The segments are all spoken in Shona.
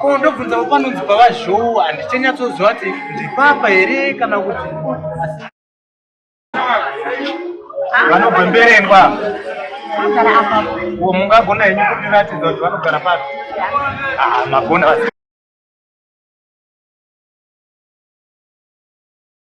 ko ndobvunza panonzi pavazhowa handichanyatsoziva kuti ndipapa here kana kuti vanobva mberengwa mungagona henyu kundiratidza kuti vanogara papi ah, magona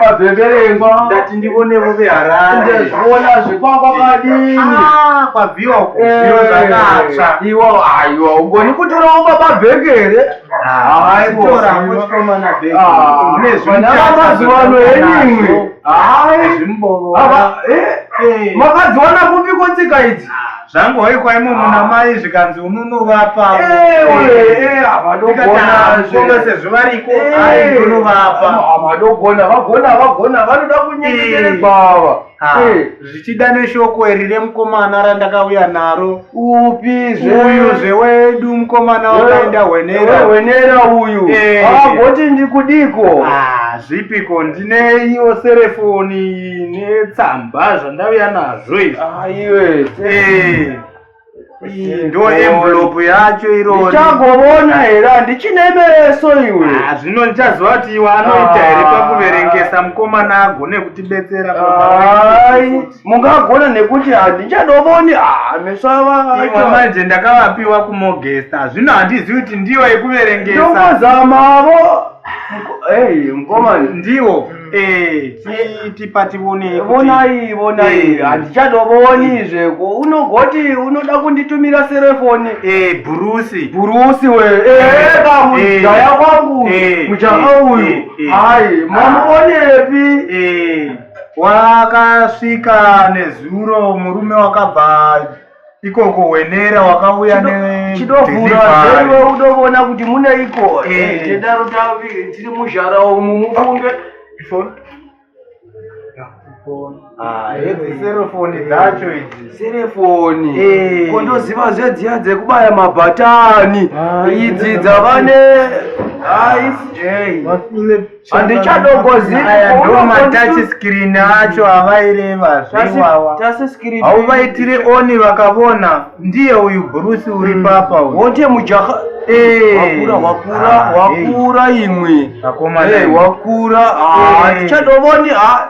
Pabhebherengwa ndati ndivonevo veharare ndazviona zvekwakwa kadini ah, kwabviwa kuviyo eh, zvakatsva iwo aiwa ugoni kutorawo baba bhekere mazuva ano henimwe makadziwana kupi kotsika idzi ah. zvangoikwa imo muna ah. mai zvikanzi unonovapa havadogona sezvo variko aiunovapa havadogona vagona vagona vanoda kunyengetere bava zvichida neshoko iri remukomana randakauya naro upi zveuyu zvewedu mukomana wakaenda hwenera hwenera uyu agoti ndikudiko zvipiko ndineiwo serefoni ine tsamba zvandauya nazvo izvi Ah, iwe. Eh, iyi ndo envelope yacho irori Ndichagobona here handichine meso iwe. Ah, zvino ndichaziva kuti iwe anoita here Ah. pakuverengesa mukomana agone kutibetsera Ai, mungagona nekuti handichadoboni ah meso ava. iwe manje ndakavapiwa kumogesta zvino handizivi kuti ndiyo yekuverengesa Ndongozamavo. Hey, mkomani. ndiwo Eh, tipa tivone vonai vonai eh. handichadovoni zveko unogoti unoda kunditumira serefoni eh, bhurusi bhurusi we kamujaya kwangu mujaya uyu hayi mamuonepi wakasvika nezuro murume wakabva ikoko wenera wakauya nedelivery unovona kuti mune iko tedaro tavi tiri muzhara umu mufunge serefoni dzacho idzi serefoni kondoziva zvedziya dzekubaya mabhatani idzi dzavane aisj handichadogozi aya ndo matachi screen acho avaireva zveiwawa hauvaitire oni vakavona ndiye uyu bruce uri mm. papa wote mujaha wakura wakura ah, wakura imwe wakura ah, eh. tichadovoni ah,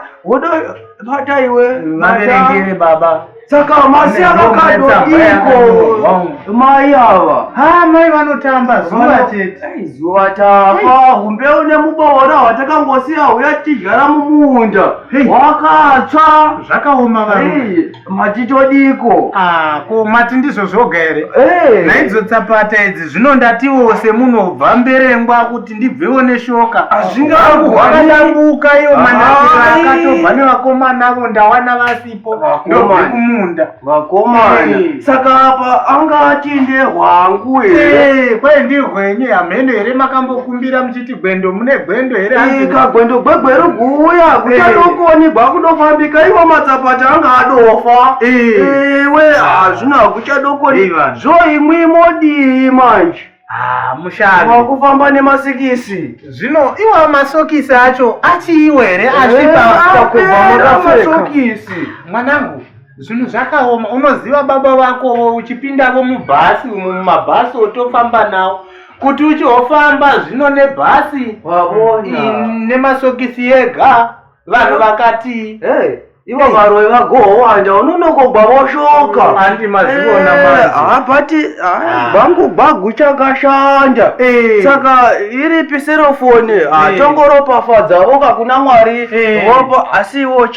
bata iwe vaverengere baba saka masi avakado iko mai ava ha mai vanotamba zuva chete zuva tava humbeu nemuboora hwatakangosiya huya tichigara mumunda wakatsva zvakaoma varume mati todiko ah, ko mati ndizvo zvoga here hey. Eh. naidzo tsapata idzi zvino ndatiwo semunhu obva mberengwa kuti ndibvewo neshoka hazvingakuhwakadambuka ah, iyo ah, manakiro akatobva nevakomana avo ndawana vasipo ndobve kumunda vakomana eh. saka apa anga ati ndehwangu here eh, kwai ndihwenyu hamheno here makambokumbira muchiti gwendo mune gwendo here ika gwendo gwegwe iri kuuya kuchadokoni gwakudofambika iwo matsapata anga adofa iwe hazvina kuchadokoni zvo imwi modii manje ah, mushavi wakufamba nemasikisi zvino iwa masokisi acho achiiwo here achipamasokisi mwanangu zvinhu zvakaoma unoziva baba vakovo uchipindavo mubhasi umo mumabhasi otofamba nawo kuti uchihofamba zvino nebhasi nemasokisi ega vanhu vakati ivo varoi vagohowanda unonokogwa voshoka mm, andi mazivona eh, mazi hapati ah. bhangu bhagu chakashanda eh. saka iripi serofoni eh. ah, tongoropafadza voka kuna mwari vopa asi iwo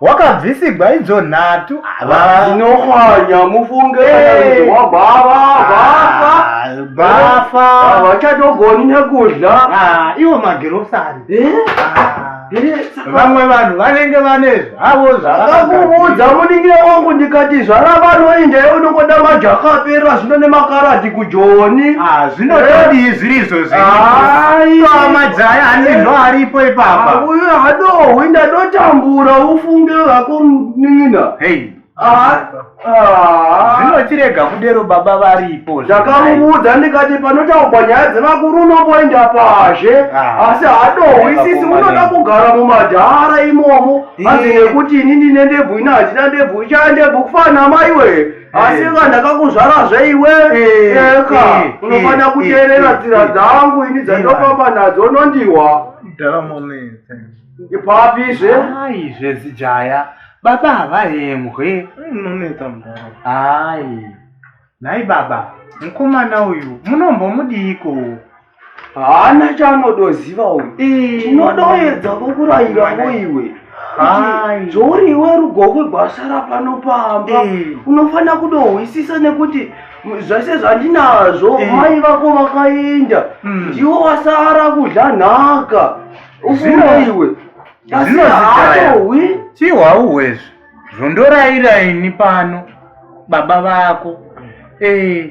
wakabvisigwa idzo nhatu vanohwanya mufunge eh. wabhava bhafa ah, vachatogoni nekudya ah, iwo magirosari eh? ah, vamwe vanhu vanenge vane zvavo zvavakakuudza muningira wangu ndikati zvara vanoinda unongoda majakapera zvino nemakarati joni ah, zvinotodii zviri izvozvi amajaya hanizvo aripo ipapa ah, uyu hadohwi ndadotambura ufunge vako nina ah, zvinotirega kudero baba varipo ndakamuudza ndikati panotaurwa nyaya dzevakuru unomboenda pazhe asi hadohwi sisi unoda kugara mumadhara imomo hanzi nekuti inini nendebvu ina handina ndebvu ichaya ndebvu kufanamaiwe asi ka ndakakuzvara zve iwe eh, eka eh, eh, unofanira kuteerera tsira dzangu ini dzandofamba nadzo unondiwa ipapi zve ai zvezijaya baba havayemwe unonetsa mdara ai nhai baba mukomana uyu munombomudiiko haana chaanodoziva uyu tinodoedza kukurairavo iwe zvauri iwe rugokwe gwasha rapano pamba unofanira kudohwisisa nekuti zvese zvandinazvo mai vako vakaenda hmm. ndiwo wasara kudla nhaka ufunga iwe asi haatohwi chihwauhwezvi zvondoraira ini pano baba vako ee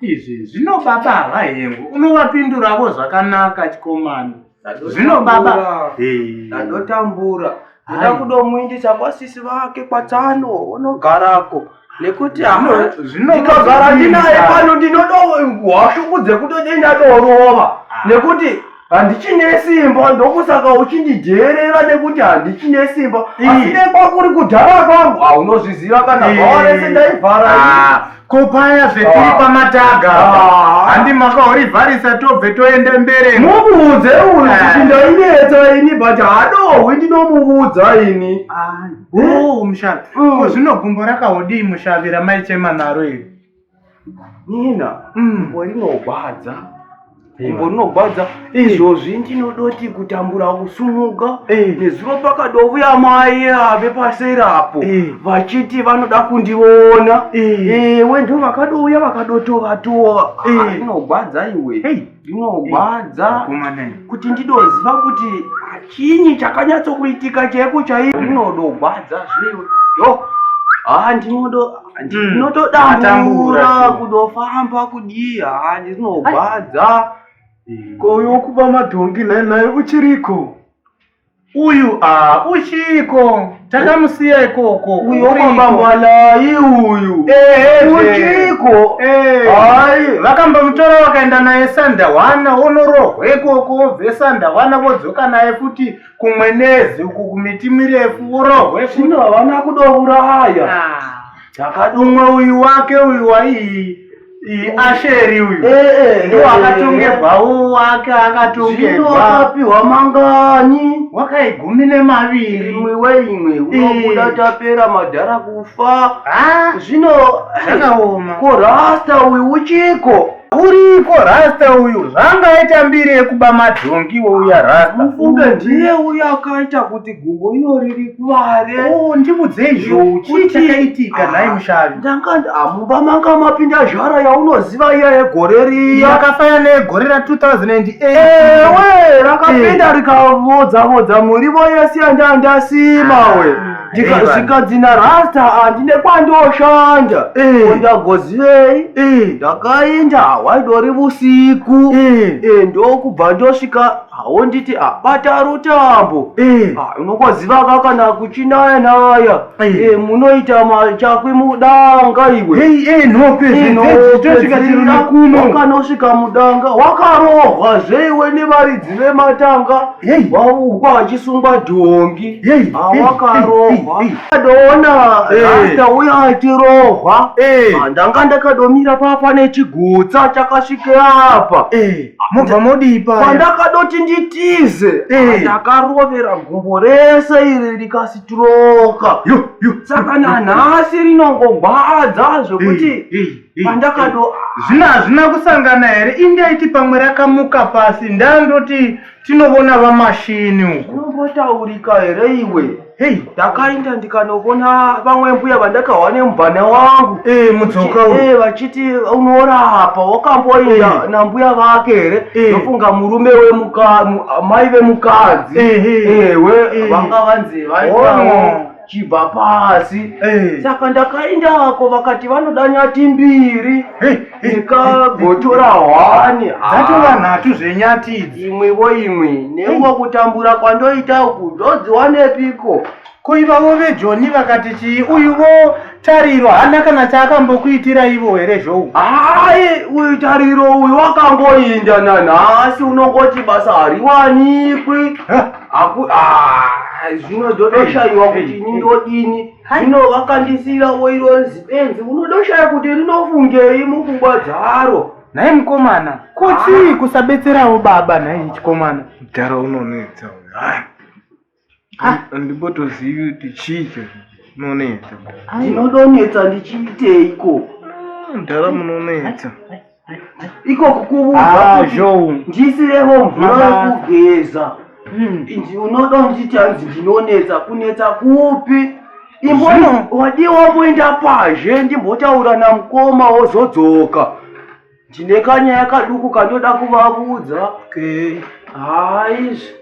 Izvi zvino baba havahengo, unovapinduravo zvakanaka chikomana. Zvino baba ndadotambura ndoda kudomuindisa kwasisi vake kwatsano unogarako nekuti ndikagara ndinaye pano ndinodohwashuku dzekutodenda dorova nekuti handichine simba ndokusaka uchindidheerera nekuti handichine simba asi nekwakuri kudhara kwangu haunozviziva kana bhawa rese ndaivhara ah, ko paya zvetiri ah. pamataga ah. handi makaurivharisa tobve toende mbere mubuudze uyu eh. kuti ndainetsa ini but hadohwi ndinomuudza ini mushavi ko zvino gumbo rakaodii mushavi ramaichema naro iri nina gumbo mm. rinogwadza gumbo rinogwadza izvozvi ndinodoti kutambura kusumuka nezuro pakadovuya mai ave paseri apo vachiti vanoda kundiona ewe ndo vakadouya vakadotovatova rinogwadza iwe zvinogwadza kuti ndidoziva kuti chinyi chakanyatsokuitika chaiko chaiyo zvinodogwadza zviwe yo haa ndinodo ndinotodambura hmm. kudofamba kudii haa ndinogwadza koyo kuba madhongi nhainhai uchiriko Uyu ah, uchiko takamusiya ikoko. Uyu wakomba mwalai uyu. Eh, uchiko. Eh. Hai, vakambomutora vakaenda naye Sandawana onorohwa ikoko obve Sandawana vodzoka naye futi kumwenezi uku kumiti mirefu orohwe futi. Zvino havana kudouraya. Ah. Chakadumwa uyu wake uyu waii. asheri uyu eh, eh, eh, ndiwo akatongerwa uwo wake akatongerwaapihwa mangani wakaigumi nemaviri imwe weimwe unobuda tapera madhara kufa ah, zvino zvakaoma ko rasta uyu uchiko uriko rasta uyu zvangaita mbiri yekuba madhongi wouya rasta ufunge ndiye uyo akaita kuti Gumbo iro riri kuvare. Oh, ndimudzei zvo. Chii chakaitika ah, nhai mushavi? Ndanga ah, mumba manga mapinda zvara yaunoziva iya yegore riya. Yakafaya negore ra 2008. Ewe, rakapinda eh. rikavodza vodza murivo yese yanda ndasima ah, we. Ndikazikadzina rasta handine kwandoshanda. Eh. Ndagozivei? Eh. Ndakaenda waidori vusiku. Ndokubva ndosvika haunditi abata rutambo eh. ah, unokwazivaka kana kuchinaya naya eh. Eh, munoita machakwi mudanga iweakanosvika mudanga wakarohwa zveiwe nevaridzi vematanga waukwa achisungwa dhongi awakarohwa ah, adoona rasta uya atirohwa ah, ndanga ndakadomira papa nechigutsa chakasvike apa mobva modii paya pandakadoti nditize Eh. ndakarovera gumbo rese iri rikasitiroka Yo, yo. saka nanhasi rinongogwadza zvekuti Eh, eh, eh, pandakado zvina hazvina kusangana here indaiti pamwe rakamuka pasi ndandoti tinovona vamashini uku unombotaurika here iwe Hey, ndakainda ndikanovona vamwe mbuya vandakawa nemubhana wangu eh, mudzoka eh, vachiti unorapa wakamboinda eh. nambuya vake here ndofunga eh. murume wemai vemukadzi eh, eh, ewe vanga vanzi vaitawo chibva pasi saka ndakaindako vakati vanoda nyati mbiri ndikagotora hwani dzatova nhatu zvenyati idzi imwivo imwi neungo kutambura kwandoita uku zvodziwanepiko ko ivavo vejoni vakati chii uyuvo tariro hana kana chaakambokuitira ivo here zvou hai uyu tariro uyu wakangoinda nanhasi unongoti basa hariwanikwi zvino dzotoshaiwa kuti ini ndodini zvino vakandisiira woironzi benzi unodoshaya kuti rinofungei mupfungwa dzaro nhai mukomana ko chii kusabetserawo baba nhai chikomana mudhara unonetsa hai handimbotozivi kuti chii chazvo unonetsa ndinodonetsa ndichiiteiko mudhara munonetsa Hai, hai. ikoku kuvuaizvouisiremo ah, mvura yekugeza hmm. unoda kunditi hanzi ndinonetsa kunetsa kupi imboni wadii wamboenda pazhe ndimbotaura namukoma wozodzoka ndine kanyaya kaduku kandoda kuvavudza okay. haizvi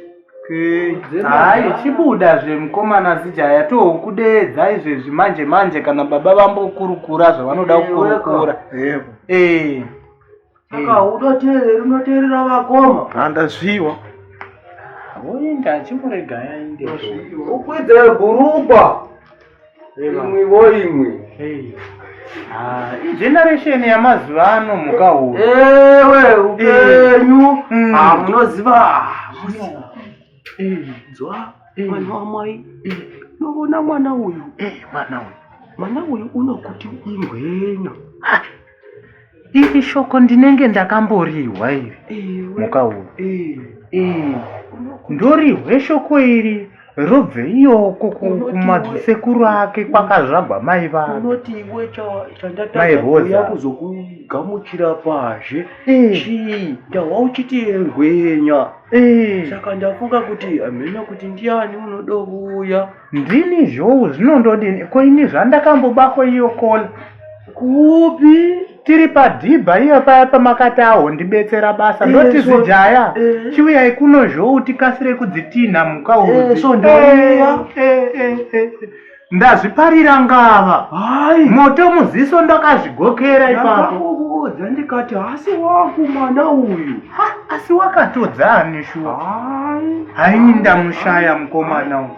hayi chibuda zvemukomana zijaya tokudeedza izvezvi manje manje kana baba vambokurukura zvavanoda kukurukura ee saka udoteereri unoteerera vakoma handazviwa woenda achimurega yainde ukwidze bhurugwa imwi vo imwi ah, generation yamazuva ano mhuka huru ewe upenyu mm. ah, munoziva dzwa mwana wamai novona mwana uyu mwana uyu mwana uyu unokuti ingwenya Iri shoko ndinenge ndakamborihwa iri mukauro. Eh. Eh. Ndorihwe shoko iri robve iyoko kumadzisekuru ake kwakazvagwa mai vake. Unoti iwe chandatadza kuzokugamuchira pazhe eh. chii ndahwa uchiti engwenya. Eh. Saka ndafunga kuti hamheno kuti ndiani unodovuya. Ndini zhou zvino ndodini ko ini zvandakambobako iyo kola. Kupi? Tiri padhibha iyo paya pamakati aho ndibetsera basa ndoti eh, zijaya eh. chiuyai kuno zhou tikasire kudzitinha muka udzi. Eh, Ndazviparira ngava. Hai. Moto muziso ndakazvigokera ipapo. Ndakakuudza ndikati hasi wangu mwana uyu. asi wakatodza ani shuwa haini ndamushaya mukomana uyu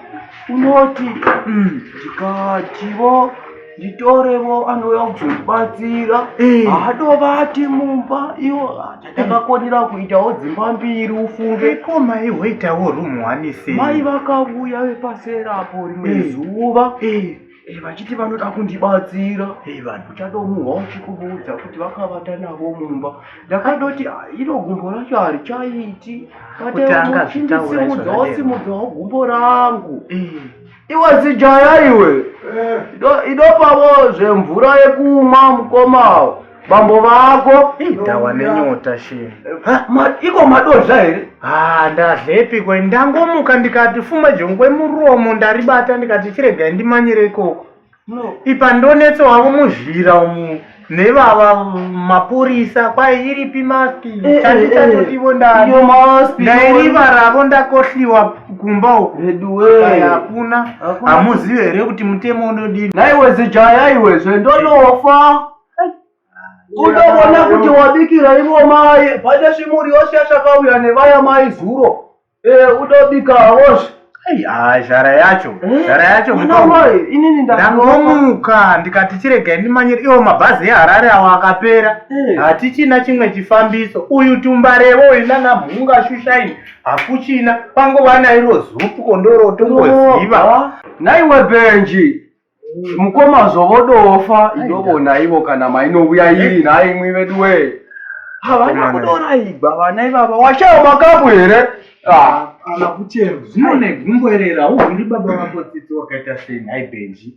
unoti mm, ndikativo nditorevo anouya kuzotibatsira eh. hadovati mumba iwo tatakakonera eh. kuitawo dzimba mbiri ufunge ko mai hoitawo rumu wanise mai vakavuya vepaserapo rimwe eh. zuva Eh, vachiti vanoda kundibatsira eh, vanhu chatomuhwa uchikubuudza kuti vakavata navo mumba ndakadoti ah, iro gumbo racho harichaiti katemuchindisimudzawasimudzwawo gumbo rangu eh. iwe zijaya iwe idopavo zvemvura yekumwa mukomawo bambo vako ndawa nenyota shee iko madozha here ha ndadlepi kwe ndangomuka ndikati fuma jongwe muromo ndaribata ndikati chiregai ndimanyire ikoko ipa ndonetso wavo muzhira umu nevava mapurisa kwai iripi maski eh, eh, chanditatotivo eh, ndairiva ravo ndakohliwa kumba uku hakuna hamuzive here kuti mutemo unodii naiwezijaya iwezve ndonofa Kutoona kuti wabikira ivo mai pane zvimuri yose yachakauya nevaya mai zuro. Eh, utobika hawozve. Ai, ah, zhara yacho Eh, zhara yacho mwana mutongo. wai, inini ndakuona. ndangomuka ndikati chiregai ndimanyire iwo mabhazi eharare awo akapera Eh. hatichina chimwe chifambiso uyu tumbarevo uyu nana mhunga shushaini hakuchina kwangova nairo zupu kondoro tongoziva Nhaiwe Benji, mukoma zvovodofa idovona ivo kana mainouya iri nhai imwi vedu wee havana kudora igwa vana ivava washaya makapu here ah. kana kuchero zvinone gumboerera uhuri baba vako tsitsi wakaita sei nhai benji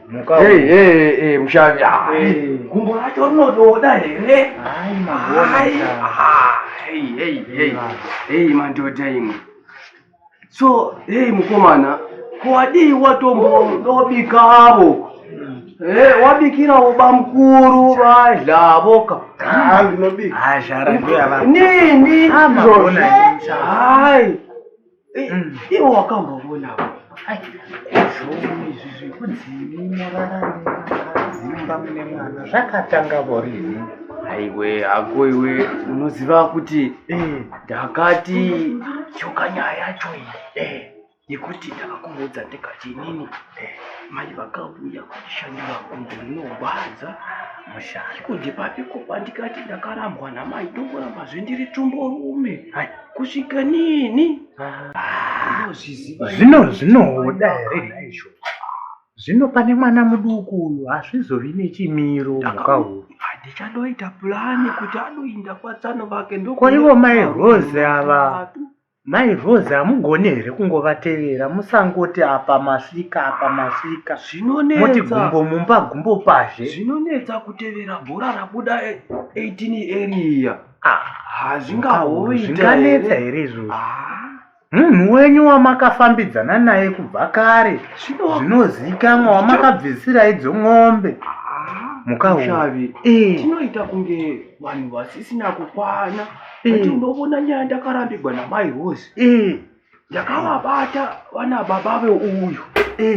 Hey, hey, hey, mushavi gumbo racho rinotoda here madhodha imwe so hey mukomana kwadii watomboobikavo Eh, wabikira uba mkuru badla boka ah, ndinobika ah, nini ah, hayi Eh, mm. iwo wakambovonawo zvomi izvi zvekudzimi morararadzimba mune mwana zvakatanga vorini aiwe hako iwe unoziva kuti eh. ndakati choka nyaya yacho iyi eh, yekuti ndakakuudza ndikachinini mai vakavuya kuchishandira kungu rinorwadza mushaya kundipapi kupa ndikati ndakarambwa namai ndongoramba zvendiri tumborume kusvika nini ah, zvino zvinoda here naizvo zvino pane mwana muduku uyu hazvizovi nechimiro mhuka uyu ndichanoita purani kuti anoinda kwatsano vake ndokoivo mai rose ava mai rose hamugoni here kungovatevera musangoti apa masvika apa masvika zvinonmoti gumbo mumba gumbo pazhe zvinonetsa kutevera bhora rabuda 18 area hazvingahoitazvinganetsa here izvozvo ah. munhu wenyu wamakafambidzana naye kubva kare zvinozivikanwa wamakabvisira idzo ng'ombe ah, mukaushavi eh. tinoita kunge vanhu vasisina kukwana eh. ndovona nyaya ndakarambigwa namai hosi eh. ndakavabata vana baba veuyu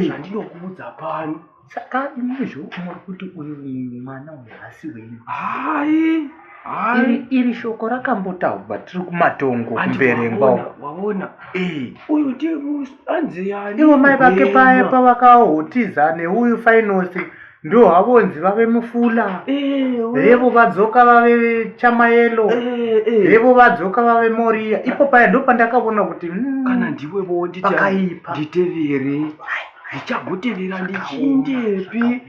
zvandinokuudza eh. pano saka izvo muri kuti uyu mwana uyu hasi wenyu hai iri shoko rakambotaurwa tiri kumatongo kumberengwa waona eh. uyu ndiye anzi yani ivo mai vake paye pavakaotiza neuyu fainosi ndo havonzi vave mufula revo vadzoka vave chamayelo revo vadzoka vave moriya ipo paya ndo pandakavona kuti hmm, kana ndiwe vondipakaipa nditevere ndichagotevera ndichindepi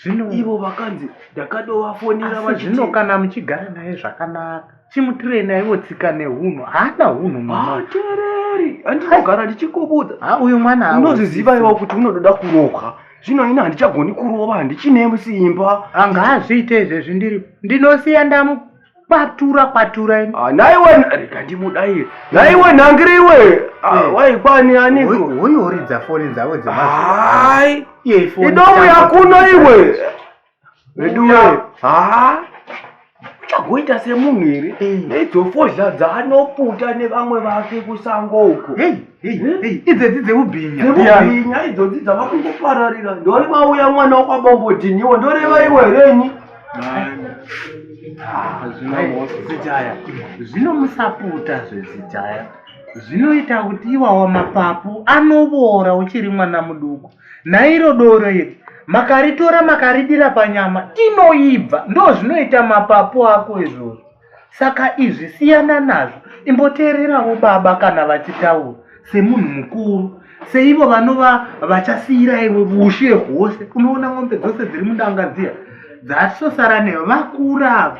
zvino ivo vakanzi ndakadovafonera vachiti zvino kana muchigara naye zvakanaka chimutirei naivo tsika nehunhu haana hunhu mwatereri andinogara ndichikubudza ha uyu mwana unozviziva iwa kuti unododa kurohwa zvino ini handichagoni kurova handichine simba anga hazviite izvezvi ndiri ndinosiya ndamu kwatura kwatura ini ah, naiwe rega ndimudaire naiwe nhangiri iwe ah, eh. waikwani aniko uyu uridza foni dzavo dzemaai idomu yakuno iwe veduwe haa uchagoita semunhu here nedzofodya eh. dzaanoputa nevamwe vake kusango uko idzedzi dzeubhinyaubinya idzodzi dzavakungopararira ndori mauya mwana wakwabombodhiniwo ndoreva iwe herenyi zvinozitaya zvinomusaputa zvezitaya zvinoita kuti iwawa mapapu anoboora uchiri mwana muduku Nairo doro iri makaritora makaridira panyama inoibva, ndo zvinoita mapapu ako izvozvo. Saka izvi siyana nazvo, imboteererawo baba kana vachitaura semunhu mukuru seivo vanova vachasiyira iwe vushe hwose. Unoona mombe dzose dziri mudanga dziya dzatosara neyo vakura ava